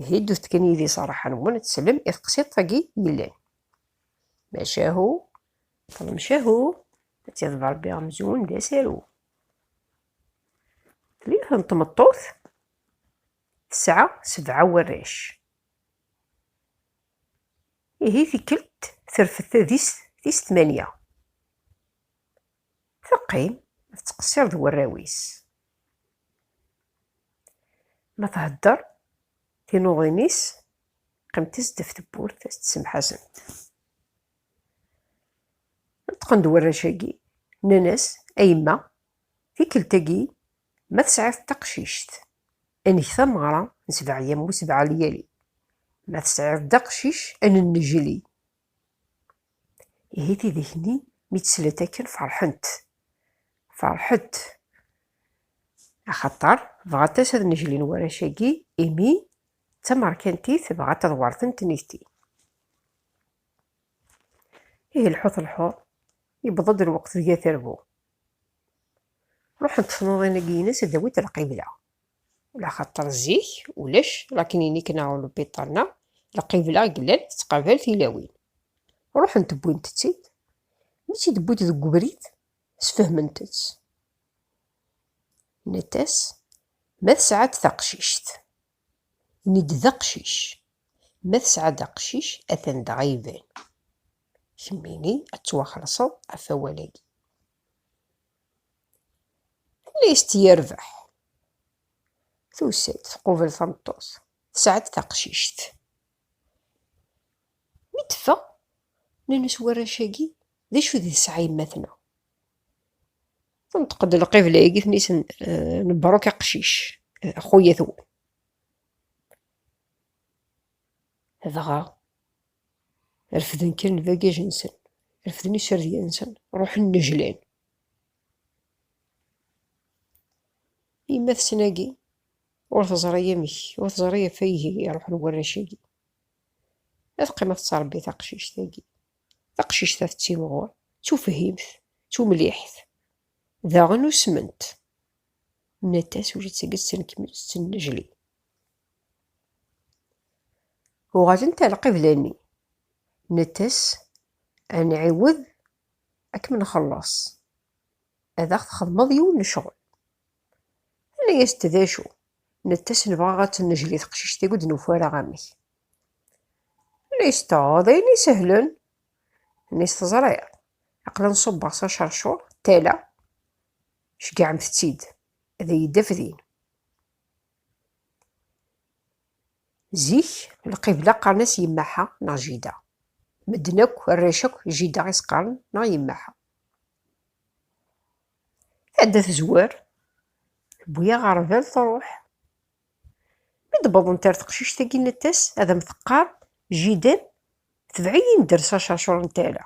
Ihi ddut kan yid-i s rraḥa-nwen ad teslem i teqsiḍt-agi yellan. Macahu, ṭlemcahu, ad tiḍeb Rebbi amzun d asaru. Yiwet n tmeṭṭut tesɛa sebɛa warrac. Ihi tikkelt terfed tadist tis tmanya. Teqqim tettqessir d warraw-is. Ma thedder, tinuḍin-is qqiment-as def tewwurt s tsemḥasemt. Neṭqen-d warrac-agi, nnan-as, A yemma, tikkelt-agi ma tesɛiḍ taqcict, ad neg tameɣra n sebɛeyya-m u sebɛa lyali, ma tesɛiḍ-d aqcic, ad nennejli. Ihi tidak-nni mi tt-slant akken ferḥent. Ferḥent. Axaṭer bɣant-as ad neglin warrac-agi imi d tamerkantit dɣa taḍwarten tnigti. Ihi lḥut lḥuḍ, yewweḍ-d lweqt deg ad terbu. Ruḥent tnuḍin-agi-ines ad awint lqibla. Laxaṭer zik ulac lakninik-nneɣ ur lbiṭar-nneɣ, lqibla i yellan tettqabal tilawin. Ruḥent wwint-tt-id, mi tt-id-wwint deg ubrid, sfehment-tt. Nnant-as, ma tesɛa-d taqcict, ini-d d aqcic, ma tesɛa-d aqcic, atan dɣa iban. Kemmini ad tettwaxelṣeḍ ɣef wawal-agi. List yerbeḥ. Tusa-d tqubel tameṭṭut. Tesɛa-d taqcict. Mi teffeɣ, nnan-as warrac-agi, d acu di tesɛa yemma-tneɣ? Tenṭeq-d lqibla-agi, ten-isen, eh, nebruk aqcic, eh, axuyat-wen. Dɣa, Refden kan lbagaj-nsen, refden iserdiyen-nsen, ruḥen nejlan. Yemma-tsen-agi ur teẓri amek, ur teẓri ɣef ay iruḥen warrac-agi. Ad qqimeɣ tettṛebbi taqcict-agi. Taqcict-a tettimɣur, ttufhimt, tumliḥt. Daɣen usment. Nnant-as ula d tagi tettennejli. Uɣalent ar lqibla-nni. Nettes, ad nɛiwed ad kem-nxelleṣ, ad aɣ-txedmeḍ yiwen n ccɣel. Tenna-yas-d, D acu? Nettes, Nebɣa ad tt-nejli teqcict-agi ur d-nufi ara amek. Tenna-yas-d, Aa, d ayen isehlen. Tenna-yas, Teẓriḍ, aql-i nṣubbeɣ s aceṛcuṛ d tala, ceggɛemt-tt-id ad iyi-d-taf din. Zik, lqibla qqaren-as Yemmaḥa neɣ Jida. Medden akk, arrac akk, Jida i s-qqaren neɣ Yemmaḥa. Tɛedda tezwar, tewwi-yaɣ ɣer bab, truḥ. Mi d-wwḍent ar teqcict-agi, nna-t-as, Ad am-teqqar Jida, tebɛ-iyi-n dders acercur n tala.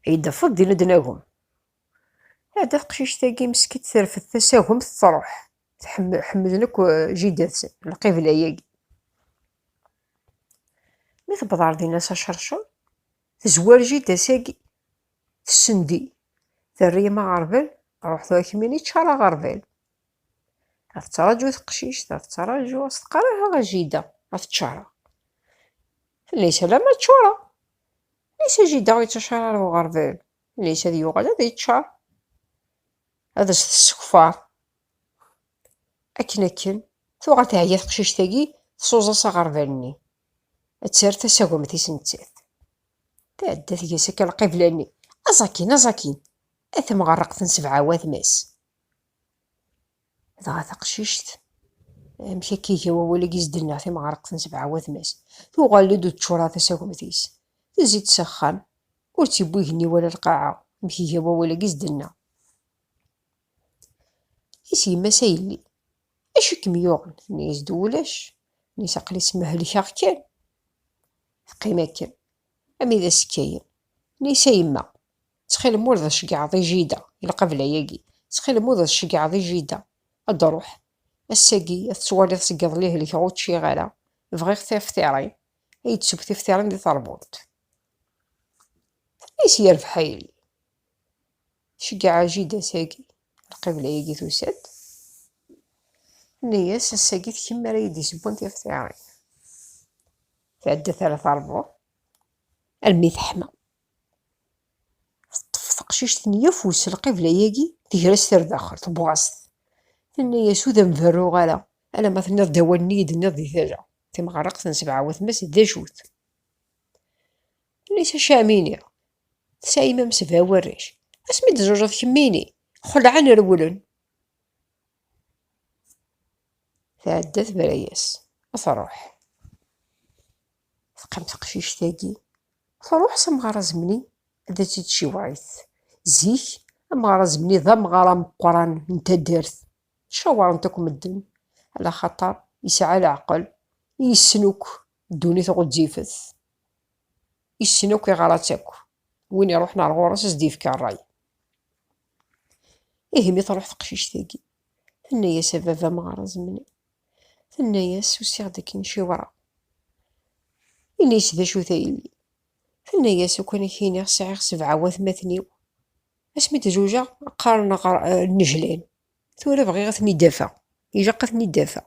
Ay d-tafeḍ din ad nagem. Ɛada teqcict-agi meskint terfed tasagemt truḥ. Ḥemmlen akk jida-tsen lqibla-agi. Mi tewweḍ ɣer din ass acercer, tezwar jida-s-agi. Tessendi, terra-yam aɣerbal, ruḥ tura kemmini yeččar aɣerbal. A tettraǧu teqcict, a tettraǧu, a s-teqqar aha a jida, a teččareɣ. Tella-yas alamma ččureɣ. Layes a jida ur yettaččar ara uɣerbal. Ulac ad yuɣal ad yeččar. Ad as-tessekfar. Akken akken, tuɣal teɛya teqcict-agi, tsuẓa s aɣerbal-nni. Ad terr tasagmt-is nettat. Tɛedda tga-s akka lqibla-nni. Aẓ akin, aẓ akin! A temɣerreqt n sebɛa watma-s! Dɣa taqcict, amek akka iga wawal-agi s-d-nniɣ timɣarqt n sebɛa watmas, tuɣal-d ur teččur ara tasagemt-is, tezzi-d s axxam, ur tt-iwwi igenni wala lqaɛa, amek iga wawal-agi s-d-nniɣ. I s yemma-s a yelli, acu i kem-yuɣen? Tenna-yas-d ulac, tenna-yas aql-i smehlkeɣ kan. Teqqim akken, ami d as-kkayen, tenna-yas a yemma, Ttxil-m ur d tceggɛeḍ i jida i lqabla-agi. Ttxil-m ur d tceggɛeḍ i jida. Ad d-ruḥ. Ass-agi, ad tettwaliḍ seg iḍelli helkeɣ ur ččiɣ ara. Bɣiɣ tiftiṛin. Ad iyi-d-tesseww tiftiṛin di teṛbult. Tenna-as yerbeḥ a yelli. Tceggɛeɣ a jida ass-agi. Lqibla-agi tusa-d. Tenna-as ass-agi d kemm ara iyi-d-yessewwen tiftiṛin. Tɛedda tara teṛbult. Almi teḥma. Teṭṭef teqcict-nni afus, lqibla-agi tegra-s tardaxel, tewweɣ-as-t. Tenna-yas, ur d am-berruɣ ara, alamma tenniḍ-d awal-nni i yi-d-tenniḍ di tala, timɣerraqt n sebɛa watma-s d acu-t? Tenna-yas, acu ara m-iniɣ, tesɛim am sebɛa warrac, asmi d-tzewǧeḍ kemmini, xelɛen rewlen. Tɛedda tebra-yas, ad truḥ. Teqqim teqcict-agi, truḥ s amɣar azemni ad tt-id-tciweṛ-it. Zik, amɣar azemni d amɣar ameqqran n taddart. Caweṛen-t akk medden, ala xaṭer yesɛa leɛqel, i yessen akk ddunit ɣezzifet, yessen akk iɣer-a-tt akk, win iṛuḥen ar ɣur-s a s-d-yefka ṛṛay. Ihi mi truḥ teqcict-agi, tenna-yas a baba amɣar azemni. Tenna-yas, Usiɣ-d akken i ciwṛeɣ. Ini-s, D acu-t a yelli? Tenna-yas, Ukan a k-iniɣ sɛiɣ sebɛa watmaten-iw. Asmi d-zewǧeɣ, qqaren aɣ nnejlan. Tura bɣiɣ a ten-id-afeɣ. Ilaq a ten-id-afeɣ.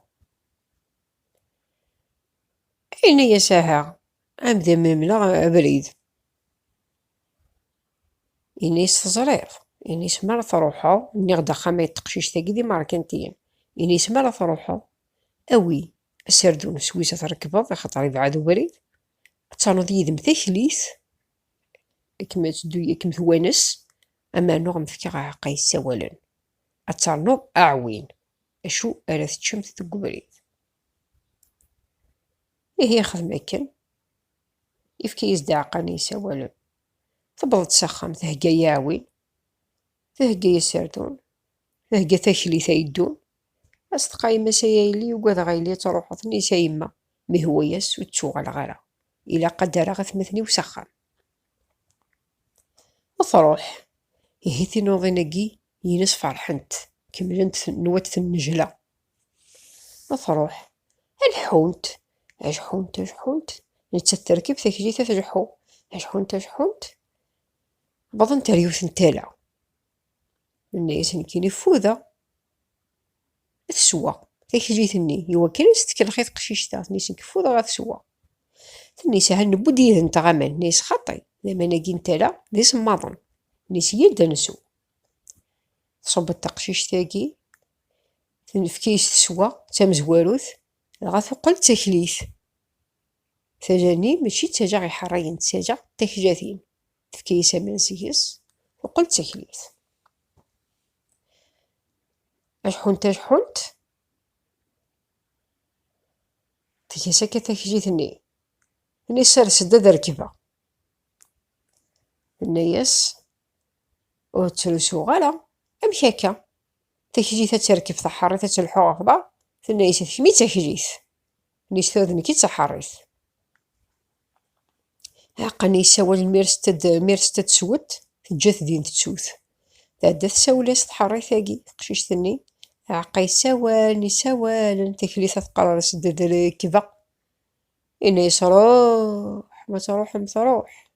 Yenna-yas, Aha, ad am-d-mlemleɣ abrid. Ini-as teẓriḍ. Ini-as mi ara truḥeḍ, nniɣ-d axxam-a d teqcict-agi d imerkantiyen. Ini-as mi ara truḥeḍ, awi aserdun s wis ad t-rekbeḍ axaṭer ibɛed ubrid, ad ternuḍ yid-m taklit, ad kem-teddu ad kem-twanes, amernuɣ ad m-fkeɣ aɛeqqa yessawalen, ad ternuḍ aɛwin acu ara teččemt deg ubrid. Ihi ixdem akken, yefka-yas-d aɛeqqa-nni yessawalen. Tewweḍ-d s axxam, thegga iɛwin, thegga aserdun, thegga taklit ay ddun. A s-teqqa yemma-s ay ayelli ugadeɣ a yelli ad truḥeḍ, tenna-as a yemma ma ihwa-as ur d-ttuɣaleɣ ara, ilaq ad d-rreɣ atmaten-iw s axxam. A truḥ, ihi tinuḍin-agi yines ferḥent, kemmlent nwat tennejla. Ma truḥ, ad ḥḥunt. Ad ḥḥunt, ad ḥḥunt. Nettat terkeb taklit ad tleḥḥu. Ad ḥḥunt, ad ḥḥunt. Wwḍent ar yiwet n tala. Nenna-as nekkini ffudeɣ. Ad teswa taklit-nni. Iwakken ad s-tkellex i teqcict-a. Tenna-as nekk ffudeɣ ad teswa. Tenna-as aha newwi-d yid-nteɣ aman. Nenna-as xaṭi, d aman-agi n tala d isemmaḍen. Nenna-as yya-d ad nsew. Tṣubb-d taqcict-agi. Tenfek-iyi-s teswa d tamezwarut, dɣa tuqqel d taklit. Tala-nni mačči d tala iḥerrigen, d tala d taklatin. Tefka-as aman seg-s, tuqqel d taklit. Aḥḥunt aḥḥunt, tga-s akka taklit-nni. Tenna-as sers-d ad rekbeɣ. Tenna-as ur ttrusuɣ ara, amek akka? Taklit ad terkeb taḥeṛṛit ad telḥu ɣef da, tenna-yas d kemmi taklit. Nis tura d nekki d taḥeṛṛit. Aqqan yessawal mi ara s-ted mi ara s-ted swet, teǧǧa-t din tettut. Tɛedda tsawel-as tḥeṛṛit-agi teqcict-nni. Aɛeqqa yessawal, yessawalen, taklit ad teqqar-as d rekbeɣ. Yenna-yas ruḥ, ma truḥem truḥ.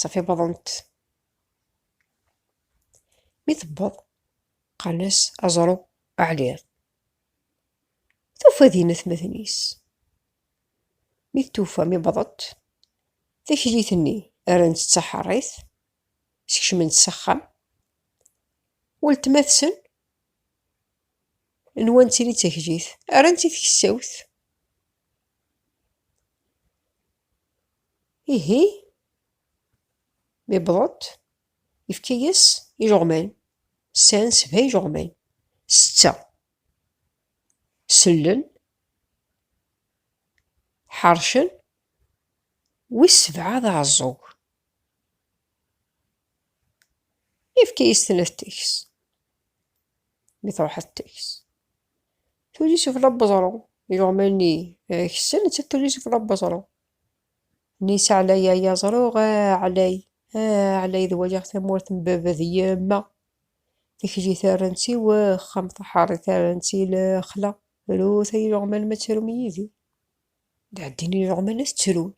Safi wwḍent. Mi tewweḍ, qqaren-as aẓru aɛliɣ. Tufa din atmaten-is. Mi tufa mi wwḍent, taklit-nni rran-tt d taḥeṛṛit, skecmen-tt s axxam. Weltma-tsen n wansi i d taklit, rran-tt i tkessawt. Ihi, mi wwḍent, yefka-yas ijeɣman. Sɛan sebɛa ijeɣman. Setta sellen, ḥeṛcen, wis sebɛa d aɛeẓẓug. Yefka-yas-ten ad t-teks. Mi truḥ ad t-teks. Tullis ɣef labeẓru, iluɣman-nni ksen, nettat tullis ɣef labeẓru. Nni s ɛlay ay aẓru, a ɛlay, a ɛlay d waliɣ tamurt n baba d yemma. Tikli tarren-tt i wexxam, taḥeṛṛi tarren-tt i lexla. Rut ay iluɣman ma tettrum yid-i. Dɛeddin iluɣman ad ttrun,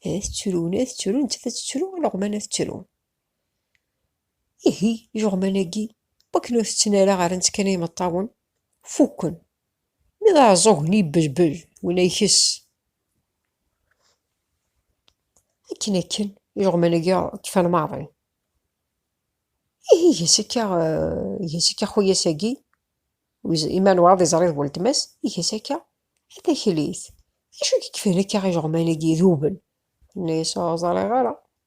ad ttrun, ad ttrun, nettat ad tettru, iluɣman ad ttrun. Ihi ijeɣman-agi, wakken ur tetten ara ɣer-nt kan imeṭṭawen, fukken. Mi d aɛeẓẓug-nni yebbelbel, winna ikess. Akken akken, ijeɣman-agi kfan maḍi. Ihi iges akka, iges akka xuyas-agi, ima n waɛeḍ iẓri d weltma-s, iges akka, a taklit, d acu i k-ikfan akka ijeɣman-agi iduben? Tenna-yas, ur ẓriɣ ara.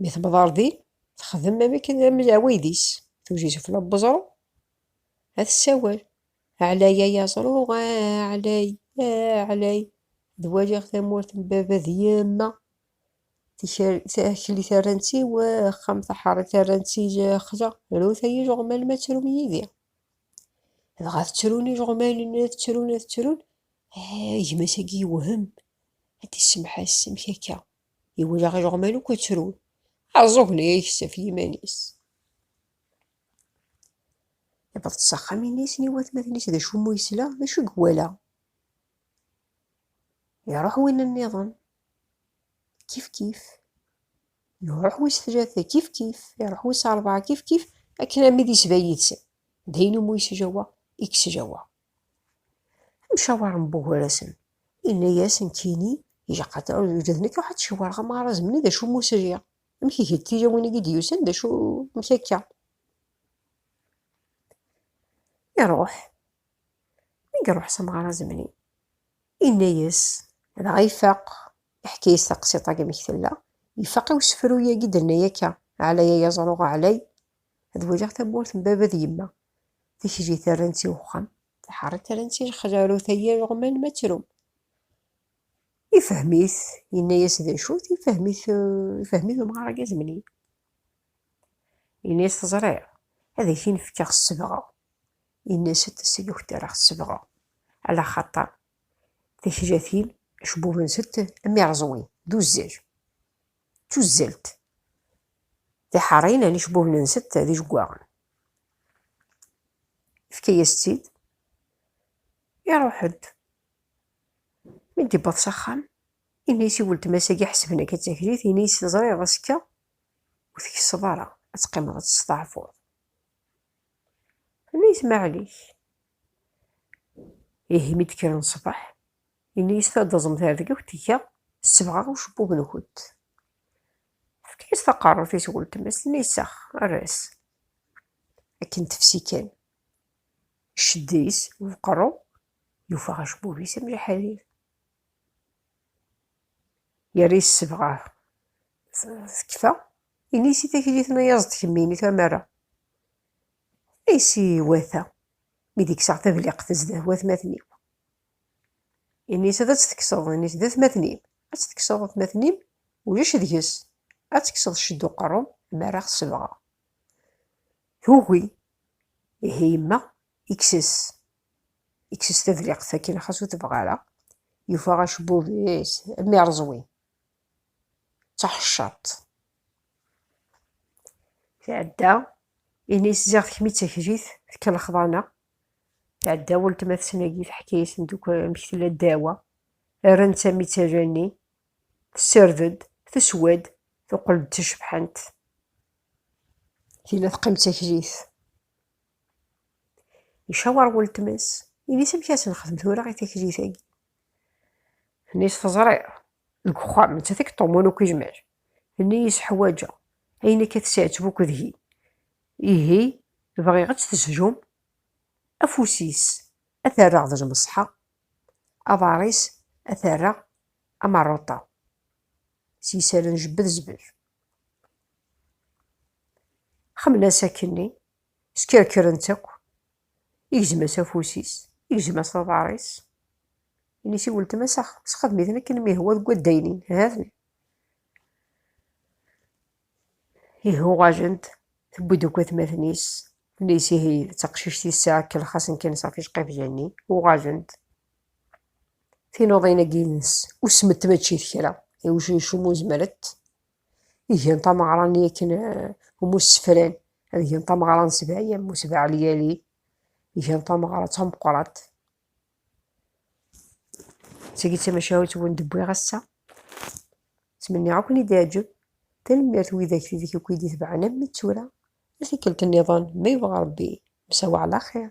Mi tewweḍ ɣer din, texdem am akken am leɛwayed-is, tuji sufella n weẓru, ad tessawel. Ɛlay ay aẓru, ɛlay, ɛlay, ad waliɣ tamurt n baba d yemma. Takli terran-tt i wexxam, taḥeṛṛit terran-tt i lexla. Rut ay ileɣman ma tettrum yid-i. Dɣa ttrun ileɣman, ad ttrun, ad ttrun, gma-s-agi yewhem, ad d-isemmeḥ-as, amek akka? Iwala ileɣman akk ttrun. Aẓugen-a yeksef yiman-is. Iwweḍ s axxam-nnes n watmaten-is d acummu yesla d acu i iwala. Iruḥ win nniḍen. Kif kif. Iruḥ wis tlata kif kif. Iruḥ wis rebɛa kif kif. Akken armi d isba yid-sen. D ayen umi yesjawa i yesjawa. Amcawar n Bugurasen yenna-yas nekkini d nekk ruḥ ad cawreɣ amarazem-nni d acu mus riɣ, amek iga d tilawin-agi d-yusan d acu amek akka. Iruḥ, mi iruḥ s amarazem-nni yenna-yas dɣa ifaq, iḥka-yas taqsiṭ-agi amek tella, ifaq i usefru-yagi d-tenna akka, Ɛlay ay aẓru ɛlay, Ad waliɣ tamurt n baba d yemma. Tikli terran-tt i uxxam. Tiḥeṛṛi terran-tt i lexla. Rut ay ireɣman ma trum. Ifhem-it, yenna-as d acu-t, ifhem-it, ifhem-it umɣar-agi azemni. Yenna-as teẓriḍ, ad ak-in-fkeɣ sebɣa. Yenna-as ad taslukt ara aɣ-sebɣa. Ala xaṭer, tikla-tin, acebbub-nsent am ireẓwin, d uzzal. d tuzzelt tiḥeṛṛin ɛni cbuhnen-nsent d ijeggaɣen. Yefka-yas-tt-id, iṛuḥ-d. Mi d-yewweḍ s axxam, yenna-yas i weltma-s agi ḥesben akka d taklit, yenna-yas teẓriḍ azekka ur tkesseḍ ara, ad teqqimeḍ ad testeɛfuḍ. Tenna-yas maɛlic. Ihi mi d-kkren ṣṣbeḥ, Ini-as ad taẓem tergewt, ihi sebɣeɣ ucebbub-nkent. Tefka-as taqerrut-is i weltma-s, tenna-as, Err-as. Akken tefsi kan, iceddi-s ubeqru, yufa acebbub-is am lḥarir. Yerra yessebɣer tekfa, ini-as i taklit n ayaẓ d tkemmin i tamara. Ini-as i wata, mi d-kkseɣ tabliqt zdat watmaten-iw. Ini-s ad tt-tekkseḍ, ini-s d atmaten-im. Ad tt-tekkseḍ atmaten-im, ulac deg-s. Ad tekkseḍ ccedd uqerru, mi ara ɣ-sebɣeɣ. Tugi, ihi yemma, ikkes-s. Ikkes-s tadliqt akken xas ur tebɣa ara. Yufa acebbub-is am ireẓwi. D taḥeccaḍt. Tɛedda, ini-s ziɣ d kemm i d taklit, tekkelxeḍ-aneɣ. Tɛedda weltma-tsen-agi teḥka-yasen akk amek tella ddawa, rran tamittala-nni, tessirred-d, teswa-d, tuqel-d d tacebḥant. Tila teqqim d taklit. Icawer weltma-s, ini-s amek ad s-nexdem tura i taklit-agi. Tenni-s teẓriḍ, deg uxxam, nettat i yeṭṭumun akk izmar. Tenni-yis ḥwaǧeɣ ayen akka tesɛetteb akk deg-i. Ihi, bɣiɣ ad tt-tezhum, afus-is ad t-rreɣ d lmeṣḥa, aḍar-is ad t-rreɣ am rruṭa. S yisallen njebbed zbel. Xemlen-as akkenni, skerkren-tt akk, igzem-as afus-is, igzem-as aḍar-is. Ini-s i weltma-s, ax, sxedem-iten akken mi ihwa deg waddaynin, ha-ten. Ihi uɣalent, tewwi-d akk atmaten-is, tenna-yas ihi d taqcict yesɛa akkel xasen kan sɣef iceqibja-nni, uɣalent, tinuḍin-agi-ines usment mačči d kra, iwc umu zemrent, i gan tameɣra-nni akken umu ssefran ad gan tameɣra n sebɛa yam u sebɛa lyali, gan tameɣra d tameqqrant. Segi tamacahut wen d-wwiɣ ass-a. Ttmenniɣ ad ken-id-iɛǧeb. Tanemmirt i widak tidek akk i d-itebɛen armi d tura. A tikkelt nniḍen, ma yebɣa Rebbi, msawa ɛla xir.